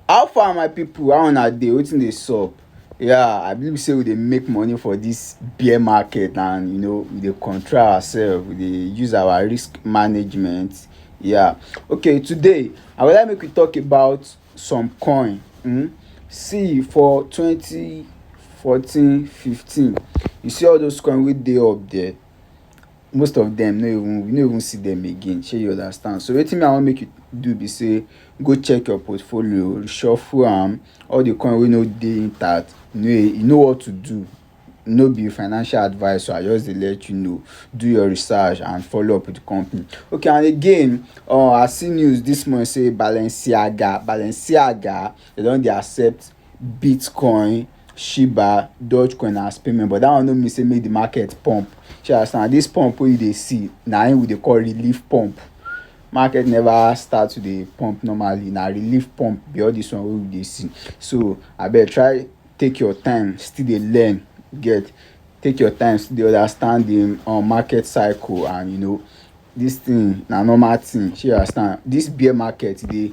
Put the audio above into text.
How far my people how una dey wetin dey sup yeah I believe sey we dey make money for this bear market and you know we dey control ourselves we dey use our risk management yeah okay today I go like make we talk about some coin um see for twenty fourteen fifteen you see all those coin wey dey up there most of them no even we no even see them again shey you understand so wetin me i wan make you do be say go check your portfolio reshuffle am all the coin wey no dey intact you know you know what to do no be financial advice o i just dey let you know do your research and follow up with the company okay and again um i see news this morning say balenciaga balenciaga they don dey accept Bitcoin, Shiba, Dogecoin as payment but that one no mean say make the market pump. Shey you understand? This pump wey you dey see na im we dey call relief pump. Market never start to dey pump normally. Na relief pump be all this one wey we dey see. So abeg try take your time still dey learn, you get? Take your time still dey understand the um market cycle and you know this thing na normal thing. Shey you understand? This bear market e dey.